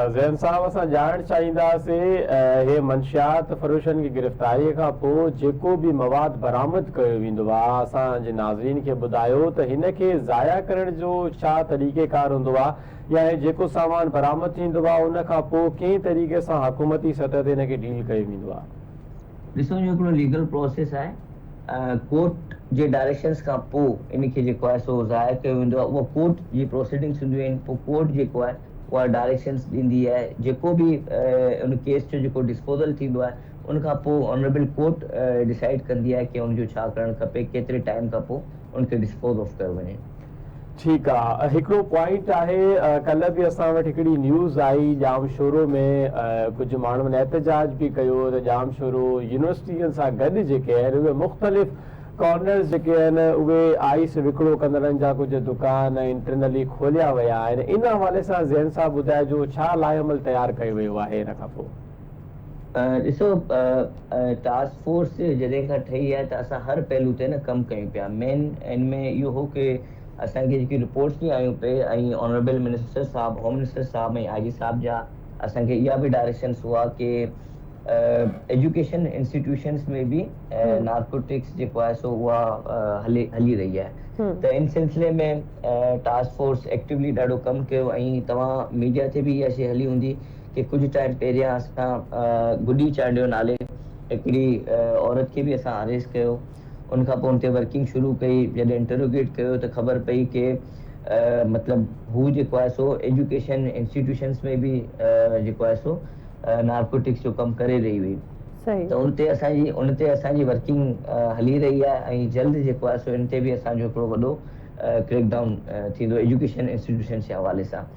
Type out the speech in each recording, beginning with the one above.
زين صاحب اسان ڄاڻڻ چاهينداسين اهي منشيات فروشن کي گرفتاري کان پوء جيڪو به مواد برآمد ڪيو ويندو آ اسان جي ناظرين کي ٻڌايو ته هن کي ضايع ڪرڻ جو ڇا طريقه ڪار هوندو آ يا هي جيڪو سامان برآمد ٿيندو آ ان کان پوء ڪنهن طريقي سان حڪومتي سطح تي ان کي ڊيل ڪيو ويندو آ. ڏسو جو هڪڙو ليگل پروسيس آهي ڪورٽ جي ڊائريڪشنس کان پوء ان کي جيڪو آهي سو ضايع ڪيو ويندو آ اها ڪورٽ جي پروسيڊنگس هونديون آهن پوء ڪورٽ جيڪو آهي اها ڊائريڪشنز ڏيندي آهي جيڪو به ان ڪيس جو جيڪو ڊسپوزل ٿيندو آهي ان کان پوء آنريبل ڪورٽ ڊسائيڊ ڪندي آهي ڪي ان جو ڇا ڪرڻ کپي ڪيتري ٽائيم کان پوء ان کي ڊسپوز آف ڪيو وڃي. ٺيڪ آ هڪڙو پوائنٽ آهي ڪلهه به اسان وٽ هڪڙي نيوز آئي ڄام شورو ۾ ڪجهه ماڻهن احتجاج به ڪيو ته ڄام شورو يونيورسٽين سان گڏ جيڪي آهن اهي مختلف ڪارنرز جيڪي آهن اهي آئس وڪرو ڪندڙن جا ڪجهه دڪان انٽرنلي کوليا ويا آهن ان حوالي سان زين صاحب ٻڌائجو ڇا لائحهعمل تيار ڪيو ويو آهي ان کان پوء. ڏسو ٽاسڪ فورس جڏهن کان ٺهي آهي ته اسان هر پهلو تي نه ڪم ڪيون پيا مين ان ۾ اهو هو ڪي اسان کي جيڪي رپورٽس به آيون پي ۽ آنريبل منسٽر صاحب هوم منسٽر صاحب ۽ آء جي صاحب جا اسان کي اها به ڊائريڪشنس هئا ڪي ايجوڪيشن انسٽيٽيوشنز ۾ به نارڪوٽڪس جيڪو آهي سو اها هلي هلي رهي آهي ته ان سلسلي ۾ ٽاسڪ فورس ايڪٽوولي ڏاڍو ڪم ڪيو ۽ توهان ميڊيا تي به اها شي هلي هوندي ڪي ڪجهه ٽائيم پهريان اسان گڊي چانڊيو نالي هڪڙي عورت کي به اسان اريسٽ ڪيو ان کان پوء ان تي ورڪنگ شروع ڪئي جڏهن انٽروگيٽ ڪيو ته خبر پئي ڪي مطلب هو جيڪو آهي سو ايجوڪيشن انسٽيٽيوشنس ۾ به جيڪو آهي سو نارڪوٽڪس جو ڪم ڪري رهي هئي ته ان تي اسان جي ان تي اسان جي ورڪنگ هلي رهي آهي ۽ جلد جيڪو آهي سو ان تي به اسان جو هڪڙو وڏو ڪريڪ ڊائون ٿيندو ايجوڪيشن انسٽيٽيوشنس جي حوالي سان.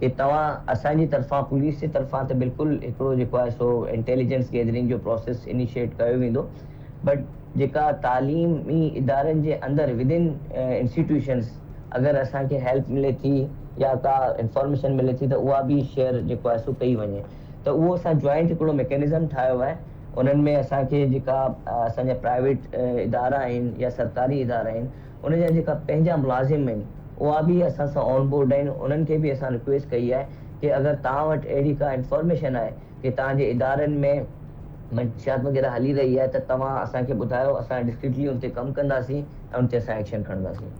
ڪي توهان اسان جي طرفان پوليس جي طرفان ته بلڪل هڪڙو جيڪو آهي سو انٽيليجنس گيدرنگ جو پروسيس انيشيٽ ڪيو ويندو بٽ جيڪا تعليمي ادارن جي اندر ودن انسٽيٽيوشنس اگر اسان کي هيلپ ملي ٿي يا ڪا انفارميشن ملي ٿي ته اها به شيئر جيڪو آهي سو ڪئي وڃي ته اهو اسان جوائنٽ هڪڙو ميڪينزم ٺاهيو آهي انهن ۾ اسان کي جيڪا اسان جا پرائيويٽ ادارا آهن يا سرڪاري ادارا آهن ان جا جيڪا پنهنجا ملازم آهن اها به اسان سان آن بورڊ آهن انهن کي به اسان رڪويسٽ ڪئي آهي ڪي اگر توهان وٽ اهڙي ڪا انفارميشن آهي ڪي توهان جي ادارن ۾ منشيات وغيره هلي رهي آهي ته توهان اسان کي ٻڌايو اسان ڊسڪريٽلي ان تي ڪم ڪنداسين ۽ ان تي اسان ايڪشن کڻنداسين.